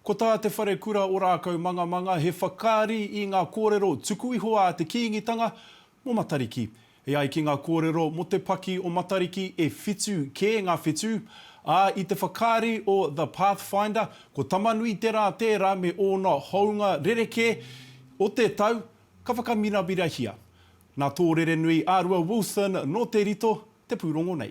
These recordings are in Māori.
Ko tā Te Wharekura Ōrākau Mangamanga he whakaari i ngā kōrero tuku iho a te Kīngitanga mō Matariki. E ai ki ngā kōrero mō te paki o Matariki e whitu kē ngā whetū, ā, i te whakaari o The Pathfinder, ko Tamanuiterā tērā me ōna hounga rerekē o te tau ka whakamiramira-hia. Nā Tōrerenui Ārua Wilson nō Te Rito te pūrongo nei.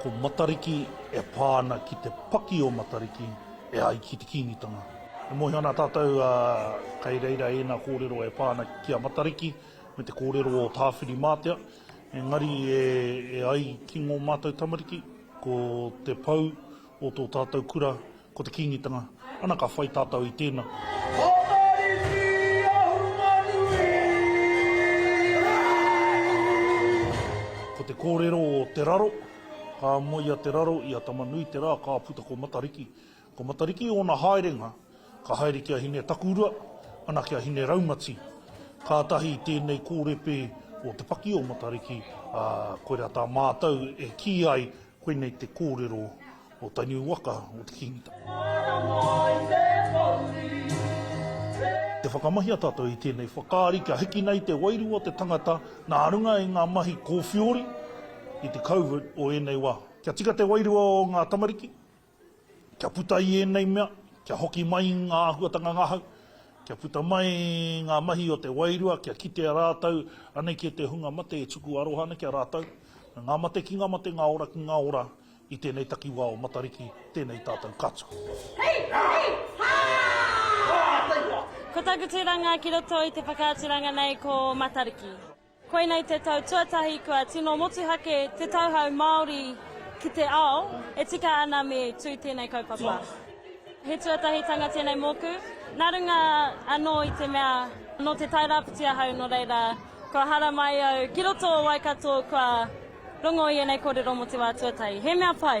Ko Matariki e pā ana ki te paki o Matariki e ai ki te Kīngitanga. E mōhio ana tātou kei reira ēnā kōrero e pā ana ki a Matariki me te kōrero o Tāwhirimātea, engari e ai ki ngō mātou tamariki ko te pou O tō tātou kura, ko te Kīngitanga, ana ka whai tātou i tēnā. Whakarite i ahunga nui rānei. Ko te kōrero o Te Raro, Ka moe a Te Raro i a Tamanui te rā ka puta ko Matariki. Ko Matariki ōna haerenga, ka haere ki a Hine-takurua, ana ki a Hine-raumati. Kātahi i tēnei kōrepe o te paki o Matariki, ā, koirā tā mātou e kī ai Koinei te kōrero o taniu waka o te Kīngitanga. Te whakamahia tātou i tēnei whakaari kia hiki nei te wairua o te tangata nā runga i ngā mahi kōwhiori i te COVID o ēnei wā. Kia tika te wairua o ngā tamariki, Kia puta i ēnei mea, kia hoki mai ngā āhuatanga ngahau, kia puta mai ngā mahi o te wairua, kia kitea rātou anei ki te hunga mate e tuku aroha ana ki a rātou. Ngā mate ki ngā mate, ngā ora ki ngā ora, i tēnei takiwā o Matariki, tēnei tātou katoa. Hei! Hei! Hā! Ko taku tūranga ki roto i te whakaaturanga nei ko Matariki. Koinei te tau tuatahi kua tino motuhake te tauhou Māori ki te ao e tika ana me tū tēnei kaupapa. He tuatahitanga tēnei mōku, nā runga anō i te mea nō Te Tairāwhiti ahau nō reira kua haramai au ki roto o Waikato kua rongo i ēnei kōrero mō te wā tuatahi. He mea pai!